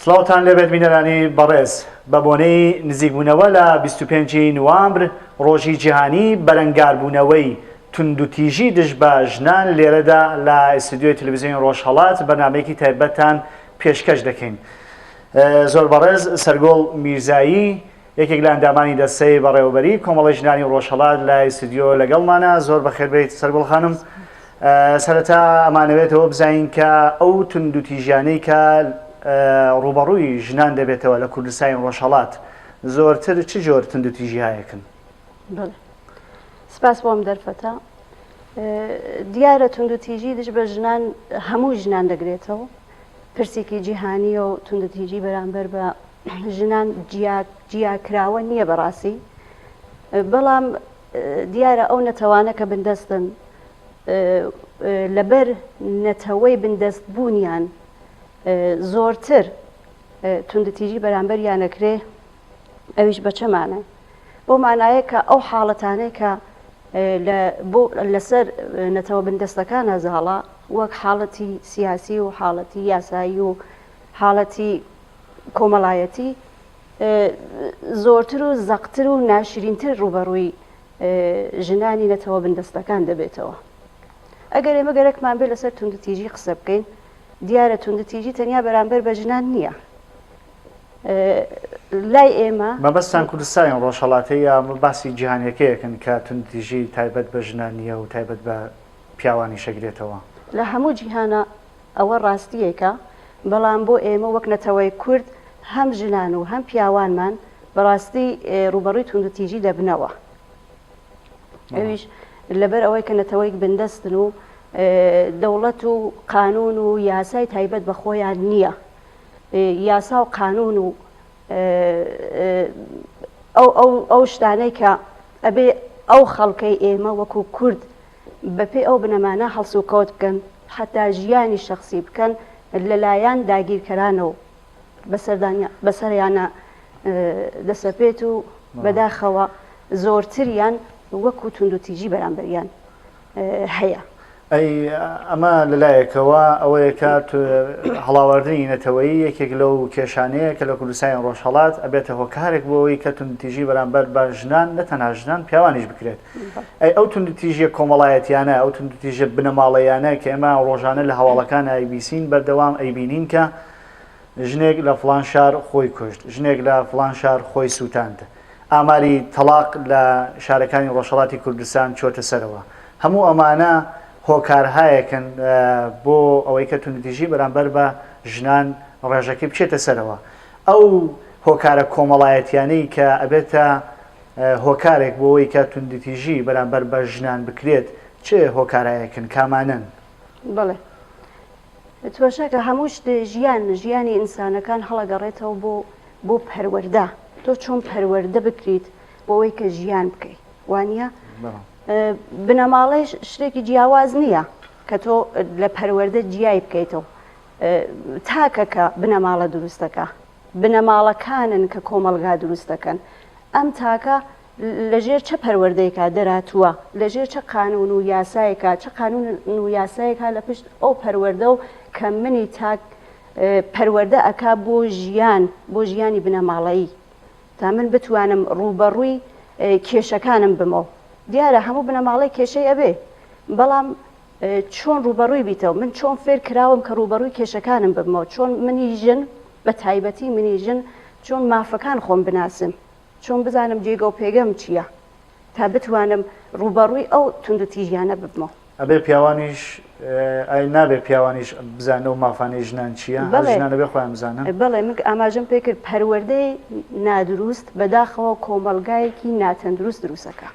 سڵاوتان لێبێت بینەرانی بەڕێز، بە بۆنەی نزیکبوونەوە لە بیست و پێنج ی نوامبر ڕۆژی جیهانی بەرەنگاربوونەوەی توندوتیژی دژ بە ژنان لێرەدا لە ئیستودیۆی تەلەفزیۆنی ڕۆژهەڵات بەرنامەیەکی تایبەتتان پێشکەش دەکەین زۆر بەڕێز سەرگۆڵ میرزایی یەکێک لە ئەندامانی دەستەی بەڕێوەبەریی کۆمەڵەی ژنانی ڕۆژهەڵات لە ئیستودیۆ لەگەڵمانە، زۆر بەخێر بێیت سەرگوڵ خانم، سەرەتا ئەمانەوێت ئەوە بزانین کە ئەو توندوتیژیانەی کە ڕووبەڕووی ژنان دەبێتەوە لە کوردستانی ڕۆژهەڵات زۆرتر چ جۆر توندوتیژیهایەکن؟ بەڵێ سپاس بۆم دەرفەتە دیارە توندوتیژی دژ بە ژنان هەموو ژنان دەگرێتەوە پرسێکی جیهانی و توندتیجی بەرامبەر بە ژنان جیا جیا کراوە نیە بەڕاسی بەڵام دیارە ئەو نەتەوانە کە بندەستن لەبەر نەتەوەی بندەست بوونیان زۆرتر توندتیژی بەرامبەر یانەکرێ ئەویش بە چەمانە بۆ مانایە کە ئەو حاڵەتانەی کە لەسەر نەتەوە بندەستەکان هەزاڵە وەک حاڵەتی سیاسی و حاڵەتی یاسایی و حاڵەتی کۆمەڵایەتی زۆرتر و زەقتر و ناشرینتر ڕووبەڕووی ژنانی نەتەوە بندەستەکان دەبێتەوە. ئەگەر ئێمە گەرەکمان بێت لەسەر توندوتیژی قسە بکەین، دیارە توندوتیژی تەنیا بەرامبەر بە ژنان نییە. لای ئێمە مەبەستتان کوردستانی ڕۆژهەڵاتە یا باسی جیهانیەکەیەکن کە توندوتیژی تایبەت بە ژنان نییە و تایبەت بە پیاوانیش ئەگرێتەوە؟ لە هەموو جیهانە ئەوە ڕاستییەکە، بەڵام بۆ ئێمە وەک نەتەوەی کورد هەم ژنان و هەم پیاوانمان بەڕاستی ڕووبەڕووی توندوتیژی دەبنەوە، ئەویش لەبەر ئەوەی کە نەتەوەیەک بندەستن و دەوڵەت و قانوون و یاسای تایبەت بە خۆیان نییە، یاسا و قانوون و ئەو شتانەی کە ئەبێ ئەو خەڵکەی ئێمە وەکوو کورد، بەپێی ئەو بنەمانە هەڵسوکەوت بکەن، حەتا ژیانی شەخسی بکەن لەلایەن داگیرکەرانەوە بەسەریانا دەسەپێت و بەداخەوە زۆرتریان وەکو توندوتیژی بەرامبەریان هەیە. ئەی ئەمە لەلایەکەوە ئەوەیە کە هەڵاواردنی نەتەوەیی یەکێک لەو کێشانەیە کە لە کوردستانی ڕۆژهەڵات ئەبێتە هۆکارێک بۆ ئەوەی کە توندوتیژی بەرامبەر بە ژنان نە تەنها ژنان پیاوانیش بکرێت. ئەی ئەو توندوتیژیە کۆمەڵایەتیانە، ئەو توندوتیژە بنەماڵەییانە کە ئێمە ڕۆژانە لە هەواڵەکان ئایبیسین بەردەوام ئەیبینین کە ژنێک لە فڵان شار خۆی کوشت، ژنێک لە فڵان شار خۆی سوتاند، ئاماری تەڵاق لە شارەکانی ڕۆژهەڵاتی کوردستان چۆتە سەرەوە، هەموو ئەمانە هۆکارهایەکن بۆ ئەوەی کە توندوتیژی بەرامبەر بە ژنان ڕێژەکەی بچێتە سەرەوە. ئەو هۆکارە کۆمەڵایەتیانەی کە ئەبێتە هۆکارێک بۆوەی کە توندوتیژی بەرامبەر بە ژنان بکرێت چ هۆکارایەکن کامانەن؟ بەڵێ تماشاکە هەموو شت ژیان ژیانی ئینسانەکان هەڵەگەڕێتەوە بۆ بۆ پەروەردە تۆ چۆن پەروەردە بکریت بۆوەی کە ژیان بکەیت وانە بنەماڵەی شتێکی جیاواز نییە کە تۆ لە پەروەردە جیای بکەیتەوە تاکەکە بنەماڵە دروستەکە بنەماڵەکانن کە کۆمەڵگا دروست دەکەن. ئەم تاکە لە ژێر چە پەروەردەیەکە دەراتووە، لە ژێر چە قانوون و یاسایەکە، چە قانوون و یاسایەکە لە پشت ئەو پەروەردە و کە منی تاک پەروەردە ئەکا بۆ ژیان، بۆ ژیانی بنەماڵەیی تا من بتوانم ڕووبەڕووی کێشەکانم بمەوە. دیارە هەموو بنەماڵەیەک کێشەی ئەبێ، بەڵام. چۆن ڕووبەڕووی بیتەوە، من چۆن فێر کراوم کە ڕووبەڕووی کێشەکانم ببمەوە، چۆن منی ژن، بە تایبەتی منی ژن، چۆن مافەکان خۆم بناسم، چۆن بزانم جێگە و پێگەم چییە، تا بتوانم ڕووبەڕووی ئەو توندوتیژیانە ببمەوە. ئەبێ پیاوانیش، ئایا نابێ پیاوانیش بزانن ئەو مافانەی ژنان چییە، هەر ژنان ئەبێ خۆیان بزانن؟ بەڵێ، من ئاماژەم پێ کرد، پەروەردەی نادروست بەداخەوە کۆمەڵگایەکی ناتەندروست دروست ئەکا.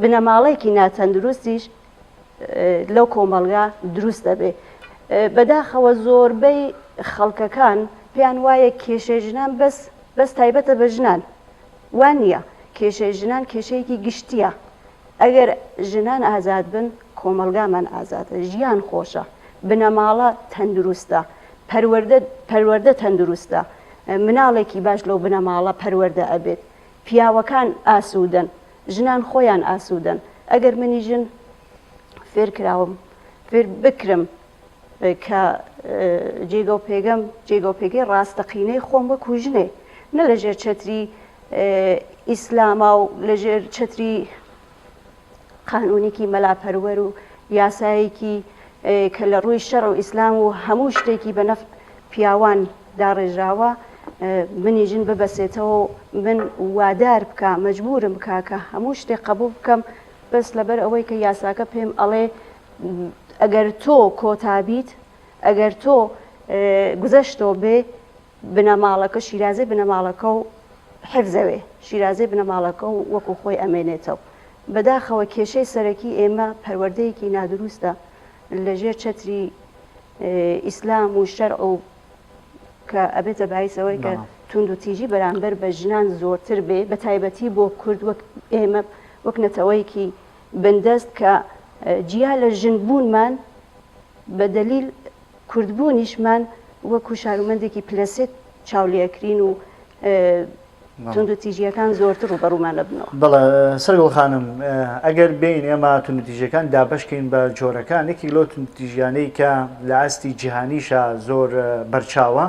بنەماڵەیەکی ناتەندروستیش لەو کۆمەڵگا دروست دەبێ بەداخەوە زۆربەی خەڵکەکان پێیان وایە کێشێ ژنان بەس بەس تایبەتە بە ژنان وان نییە کێشەی ژنان کێشەیەکی گشتیە ئەگەر ژنان ئازاد بن کۆمەلگامان ئازادە ژیان خۆشە بنەماڵە تەندروستە پەروەەردە پەروەەردە تەندروستە مناڵێکی باش لەو بنەماڵە پەروەەردە ئەبێت پیاوەکان ئاسوودەن، ژنان خۆیان ئاسوودەن، ئەگەر منی ژن فێر کراوم، فێر بکرم کە جێگە و پێگەم، جێگە و پێگەی ڕاستەقینەی خۆم وەکوو ژنێ، نە لەژێر چەتری ئیسلاما و لەژێر چەتری قانونێکی مەلا پەروەر و یاسایەکی کە لە ڕووی شەڕ و ئیسلام و هەموو شتێکی بە نەفت پیاوان داڕێژراوە منی ژن ببەسێتەوە من وادار بکە مەجبورم بکە کە هەموو شتێک قبول بکەم بەس لەبەر ئەوەی کە یاساکە پێم ئەڵێ ئەگەر تۆ کۆتابیت ئەگەر تۆ گوزەشتۆ بێ بنەماڵەکە شیرازەی بنەماڵەکە و حفزەێ شیرازەی بنەماڵەکە و وەکو خۆی ئەمێنێتەو. بەداخەوە کێشەی سەرەکی ئێمە پەروەردەیەکی نادروستە لە ژێر چەتری ئیسلام و شەرع و کە ئەبێتە باعیس ئەوەی کە توندوتیژی بەرامبەر بە ژنان زۆرتر بێ بە تایبەتی بۆ کورد وەک ئێمە وەک نەتەوەیەکی بندەست کە جیا لە ژن بوونمان بە دەلیل کوردبوونیشمان وەکو شارومەندێکی پلە سێ چاو لێکرین و توندوتیژییەکان زۆرتر ڕووبەڕوومان دەبنەوە. بەڵێ سەرگوڵ خانم، ئەگەر بێین ئێمە توندوتیژییەکان دابەشکەین بە جۆرەکان، یەکێک لەو توندوتیژییانەی کە لە ئاستی جیهانیشا زۆر بەرچاوە،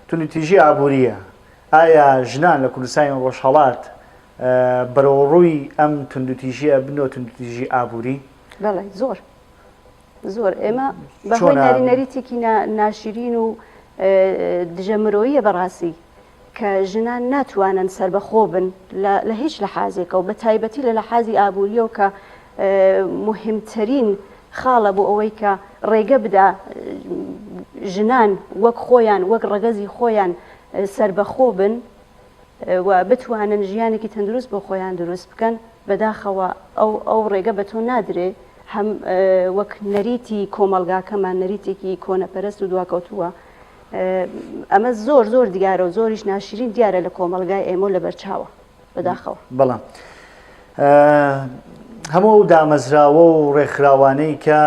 توندوتیژی ئابوورییە. ئایا ژنان لە کوردستانی ڕۆژهەڵات بەرەوڕووی ئەم توندوتیژییە بن و توندوتیژی ئابووری؟ بەڵێ زۆر. زۆر ئێمە بە هۆی نەری نەریتێکی ناشرین و دژە مرۆیە بەڕاستی کە ژنان ناتوانن سربەخۆ بن لە هیچ لە حازێکە و بە تایبەتی لە لە حازی ئابوووریەوە کە مهمترین خاڵە بۆ ئەوەی کە ڕێگە بدا ژنان وەک خۆیان وەک ڕەگەزی خۆیان سربەخۆ بن و بتوانن ژیانێکی تەندروست بۆ خۆیان دروست بکەن بەداخەوە ئەو ئەو ڕێگە بە تۆ نادرێ هەم وەک نەریتی کۆمەڵگاکەمان نەریتێکی کۆنەپەرست و دواکەوتووە. ئەمە زۆر زۆر دیارە و زۆریش ناشرین دیارە لە کۆمەڵگای ئێمە لە بەرچاوە بەداخەوە. بەڵام هەموو ئەو دامەزراوە و ڕێکخراوانەی کە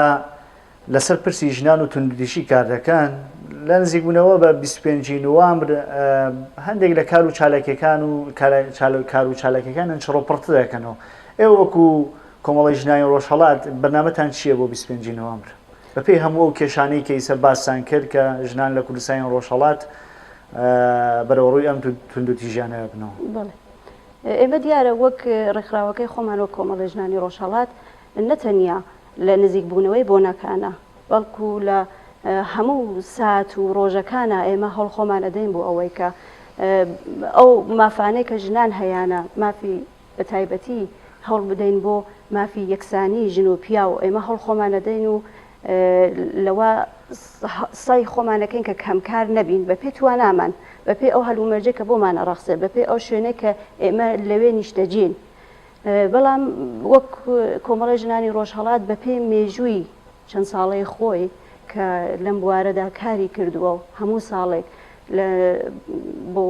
لەسەر پرسی ژنان و توندوتیژی کار دەکەن لە نزیکبوونەوە بە 25 نوامبر هەندێک لە کار و چالاکیەکان و کار و چالاکیەکانیان چڕۆپڕت دەکەنەوە ئێوە وەکو کۆمەڵەی ژنانی ڕۆژهەڵات بەرنامەتان چییە بۆ بیست و پێنج ی نوامبر؟ بەپێی هەموو ئەو کێشانەی کە ئیسە باستان کرد کە ژنان لە کوردستانی ڕۆژهەڵات بەرەوڕووی ئەم توندوتیژیانە ئەبنەوە. بەڵێ. ئێمە دیارە وەک ڕێکخراوەکەی خۆمان وەک کۆمەڵەی ژنانی ڕۆژهەڵات نە تەنیا لە نزیکبوونەوەی بۆنەکانا بەڵکو لە هەموو سات و ڕۆژەکانا ئێمە هەوڵ خۆمان ئەدەین بۆ ئەوەی کە ئەو مافانەی کە ژنان هەیانە مافی بە تایبەتی هەوڵ بدەین بۆ مافی یەکسانی ژن و پیاو ئێمە هەوڵ خۆمان ئەدەین و لەوە سەی خۆمانەکەین کە کەمکار نەبین بە پێ توانامان بە پێ ئەو هەلومەرجە کە بۆمان ئەڕەخسێ بە پێ ئەو شوێنێک کە ئێمە لەوێ نیشتەجین بەڵام وەک کۆمەڵی ژنانی ڕۆژهەڵات بە پێی مێژووی چەند ساڵەی خۆی کە لەم بوارەدا کاری کردووە و هەموو ساڵێک لە بۆ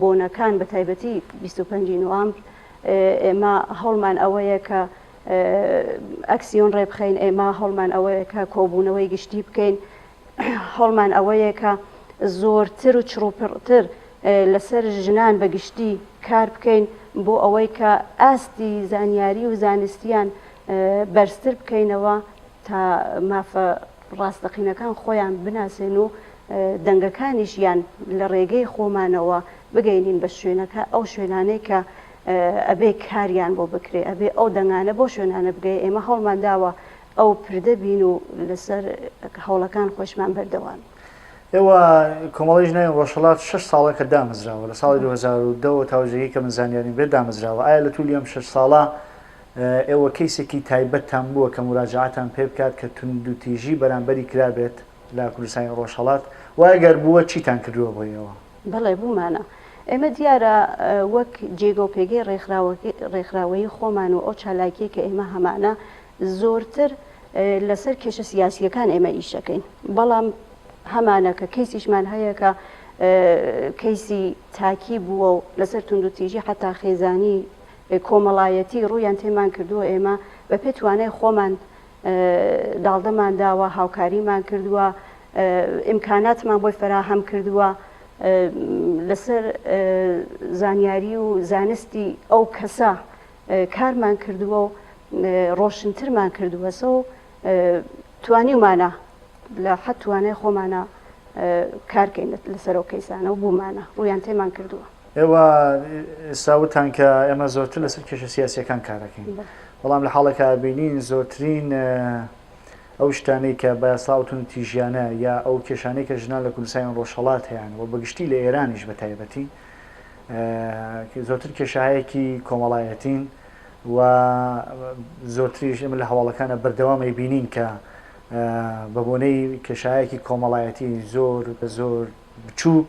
بۆنەکان بە تایبەتی بیست و پەنج نوامبر ئێمە هەوڵمان ئەوەیە کە ئەکسیۆن ڕێبخەین ئێمە هەوڵمان ئەوەیە کە کۆبوونەوەی گشتی بکەین هەوڵمان ئەوەیە کە زۆرتر و چڕوپڕتر لەسەر ژنان بە گشتی کار بکەین بۆ ئەوەی کە ئاستی زانیاری و زانستیان بەرزتر بکەینەوە تا مافە ڕاستەقینەکان خۆیان بناسێن و دەنگەکانیشیان لە ڕێگەی خۆمانەوە بگەینین بە شوێنەکە ئەو شوێنانەی کە ئەبێ کاریان بۆ بکرێ ئەبێ ئەو دەنگانە بۆ شوێنانە بگەی ئێمە هەوڵمان داوە ئەو پردە بین و لەسەر هەوڵەکان خۆشمان بەردەوام. ئێوە کۆمەڵی ژنای ڕۆژهڵات 6 ساڵە کە دامەزراوە لە ساڵی 2010 تاوجێکی کە من زانیاریم بێت دامەزراوە ئایا لە تولی ئەم 6 ساڵە ئێوە کەیسێکی تایبەتتان بووە کە موراجەعەتان پێ بکات کە توندوتیژی بەرامبەری کرابێت لە کوردستانی ڕۆژهەڵات؟ وە ئەگەر بووە چیتان کردووە بۆ ئێوە؟ بەڵێ بوومانە. ئێمە دیارە وەک جێگە و پێگەی ڕێکخراوەیی خۆمان و ئەو چالاکییە کە ئێمە هەمانە زۆرتر لەسەر کێشە سیاسییەکان ئێمە ئیش ئەکەین. بەڵام هەمانە کە کەیسیشمان هەیە کە کەیسی تاکی بووە و لەسەر توندوتیژی حەتا خێزانی کۆمەڵایەتی ڕوویان تێمان کردووە، ئێمە بە پێ توانای خۆمان داڵدەمان داوە، هاوکاریمان کردووە، ئیمکاناتمان بۆی فەراهەم کردووە، لەسەر زانیاری و زانستی ئەو کەسە کارمان کردووە و ڕۆشنترمان کردووەسە و توانیومانە. لە حەد توانای خۆمانە کار کەین لەسەر ئەو کەیسانە و بوومانە ڕوویان تێمان کردووە. ئێوە ئێستا وتتان کە ئێمە زۆرتر لەسەر کێشە سیاسییەکان کار دەکەین، بەڵام لە حاڵێکا بینین زۆرترین ئەو شتانەی کە بە یاسا ئەو توندوتیژییانە یا ئەو کێشانەی کە ژنان لە کوردستانی ڕۆژهەڵات هەیان و بە گشتی لە ئێرانیش بە تایبەتی زۆرتر کێشایەکی کۆمەڵایەتین و زۆرتریش ئێمە لە هەواڵەکانە بەردەوام ئەیبینین کە بە بۆنەی کێشایەکی کۆمەڵایەتی زۆر زۆر بچووک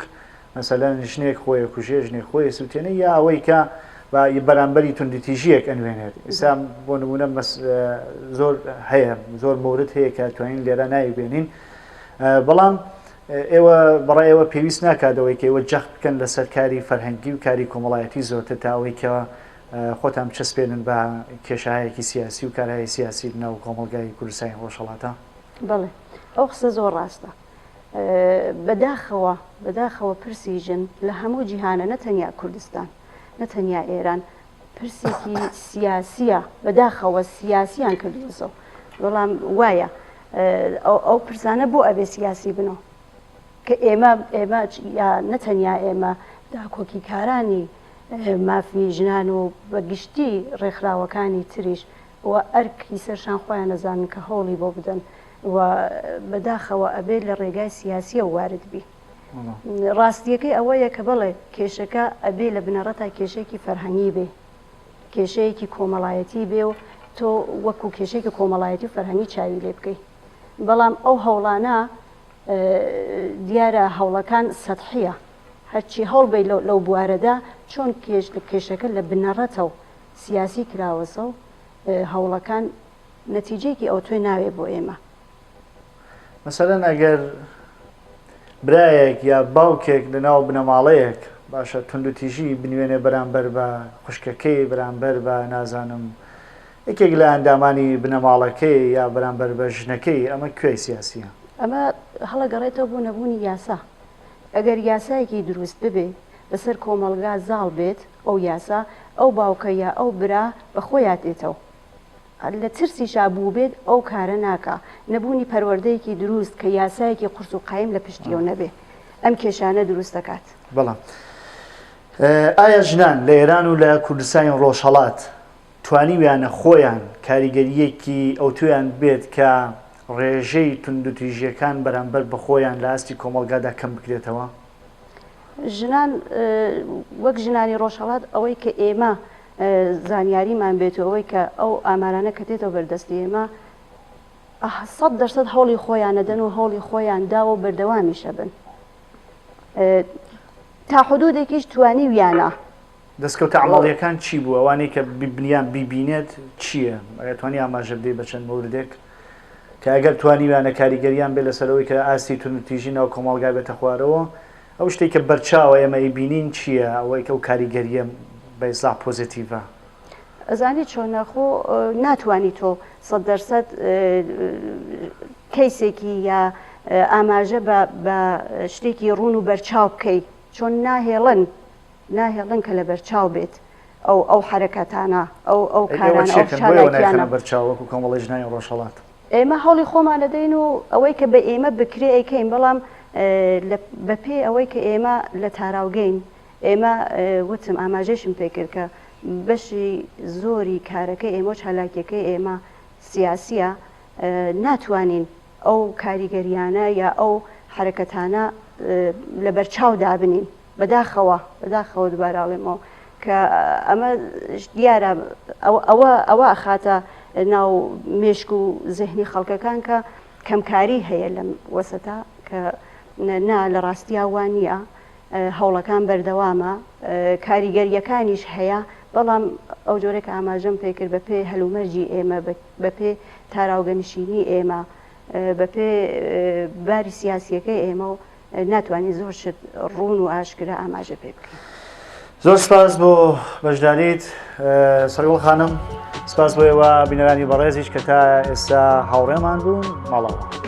مەسەلەن ژنێک خۆی کوژێ ژنێک خۆی سووتێنە یا ئەوەی کە بە بەرامبەری توندتیژیەک ئەنوێنێت ئستا بۆ نمونە زۆر هەیە زۆر مورد هەیە کە توانین لێرا ناوی بێنین بەڵام ئێوە بەڕای ئێوە پێویست ناکاتەوەی کە ئێوە جەخت بکەن لەسەر کاری فەرهەنگی و کاری کۆمەڵایەتی زۆرتر تاوەی کە خۆتان بچەسپێنن بە کێشایەکی سیاسی و کارایەی سیاسی لەناو کۆمەڵگای کوردستانی ڕۆژهەڵاتا. بەڵێ ئەو قسە زۆر ڕاستە. بەداخەوە بەداخەوە پرسی ژن لە هەموو جیهانە نە تەنیا کوردستان نە تەنیا ئێران پرسێکی سیاسیە بەداخەوە سیاسیان کردوەسەو بەڵام وایە ئەو پرسانە بۆ ئەبێ سیاسی بنەوە کە ئێمە ئێمە یا نە تەنیا ئێمە داکۆکی کارانی مافی ژنان و بە گشتی ڕێکخراوەکانی تریش و ئەرک ی سەرشان خۆیان ئەزانن کە هەوڵی بۆ بدەن و بە داخەوە ئەبێ لە ڕێگای سیاسیەوە وارد بی. ڕاستیەکەی ئەوەیە کە بەڵێ کێشەکە ئەبێ لە بنەڕەتا کێشەیەکی فەرهەنگی بێ، کێشەیەکی کۆمەڵایەتی بێ و تۆ وەکو کێشەیەکی کۆمەڵایەتی و فەرهەنگی چاوی لێ بکەی. بەڵام ئەو هەوڵانە دیارە هەوڵەکان سەتحییە، هەرچی هەوڵ بەی لەو بوارەدا، چۆن کێشەکە لە بنەڕەتەو سیاسی کراوەسەو هەوڵەکان نەتیجەیەکی ئەوتۆی ناوێ بۆ ئێمە. مەسەلەن ئەگەر برایەک یا باوکێک لە ناو بنەماڵەیەک باشە توندوتیژی بنوێنێ بەرامبەر بە خوشکەکەی، بەرامبەر بە نازانم، یەکێک لە ئەندامانی بنەماڵەکەی یا بەرامبەر بە ژنەکەی ئەمە کوێی سیاسیە؟ ئەمە هەڵەگەڕێتەوە بۆ نەبوونی یاسا ئەگەر یاسایەکی دروست ببێ بەسەر کۆمەڵگا زاڵ بێت ئەو یاسا ئەو باوکە یا ئەو برا بە خۆیا دێتەوە لە ترسیشا بووبێت ئەو کارە ناکا نەبوونی پەروەردەیەکی دروست کە یاسایەکی قورس و قایم لە پشتیەوە نەبێ ئەم کێشانە دروست دەکات بەڵام ئایا ژنان لە ئێران و لە کوردستانی ڕۆژهەڵات توانیویانە خۆیان کاریگەرییەکی ئەوتۆیان بێت کە ڕێژەی توندوتیژییەکان بەرامبەر بە خۆیان لە ئاستی کۆمەڵگادا کەم بکرێتەوە؟ ژنان وەک ژنانی ڕۆژهەڵات ئەوەی کە ئێمە زانیاریمان بێت و ئەوەی کە ئەو ئامارانە کە دێتەوە بەردەستی ئێمە سەد دەرسەد هەوڵی خۆیان نەدەن و هەوڵی خۆیان داوە و بەردەوامیشە بن تا حدودێکیش توانی ویانە دەستکەوتە عەمەڵییەکان چی بوو؟ ئەوانەی کە بیبنیان بیبینێت چییە؟ ئایا توانی ئاماژە بدەیت بە چەند مۆردێک کە ئەگەر توانیویانە کاریگەریان بێت لەسەر ئەوەی کە ئاستی توندوتیژی ناو کۆمەڵگا بێتە خوارەوە؟ ئەو شتەی کە بەرچاوە ئێمە ئەیبینین چییە ئەوەی کە ئەو کاریگەرییە بە ئیسلاح پۆزەتیڤە؟ ئەزانی چۆنە خۆ ناتوانی تۆ سەد دەر سەد کەیسێکی یا ئاماژە بە شتێکی ڕوون و بەرچاو بکەی چۆن ناهێڵن ناهێڵن کە لەبەرچاو بێت ئەو ئەو حەرەکەتانە، ئەو ئەو ئەی ئێوە کارانە، ئەو چێکن بۆ ئێوە نایخەنە چالاکیانە. بەرچاو وەکو کۆمەڵی ژنانی ڕۆژهەڵات؟ ئێمە هەوڵی خۆمان ئەدەین و ئەوەی کە بە ئێمە بکرێ ئەیکەین، بەڵام لە بە پێی ئەوەی کە ئێمە لە تاراوگەین، ئێمە وتم ئاماژەیشم پێ کرد کە بەشی زۆری کارەکەی ئێمە و چالاکیەکەی ئێمە سیاسیە، ناتوانین ئەو کاریگەریانە یا ئەو حەرەکەتانە لە بەرچاو دابنین. بەداخەوە، بەداخەوە دوبارە ئەڵێمەوە کە ئەمە دیارە ئەوە ئەوە ئەخاتە ناو مێشک و زهنی خەڵکەکان کە کەمکاری هەیە لەم وەسەتا کە نا لە ڕاستیا وا نییە هەوڵەکان بەردەوامە کاریگەریەکانیش هەیە بەڵام ئەو جۆرە کە ئاماژەم پێکرد بە پێ هەلومەرجی ئێمە بە پێ تاراوگەنشینی ئێمە بە پێ باری سیاسیەکەی ئێمە و ناتوانین زۆر شت ڕوون و ئاشکرا ئاماژە پێ بکەین. زۆر سپاس بۆ بەشداریت سەرگوڵ خانم سپاس بۆ ئێوە بینەرانی بەڕێزیش کە تا ئێستا هاوڕێمان بوون ماڵەوە.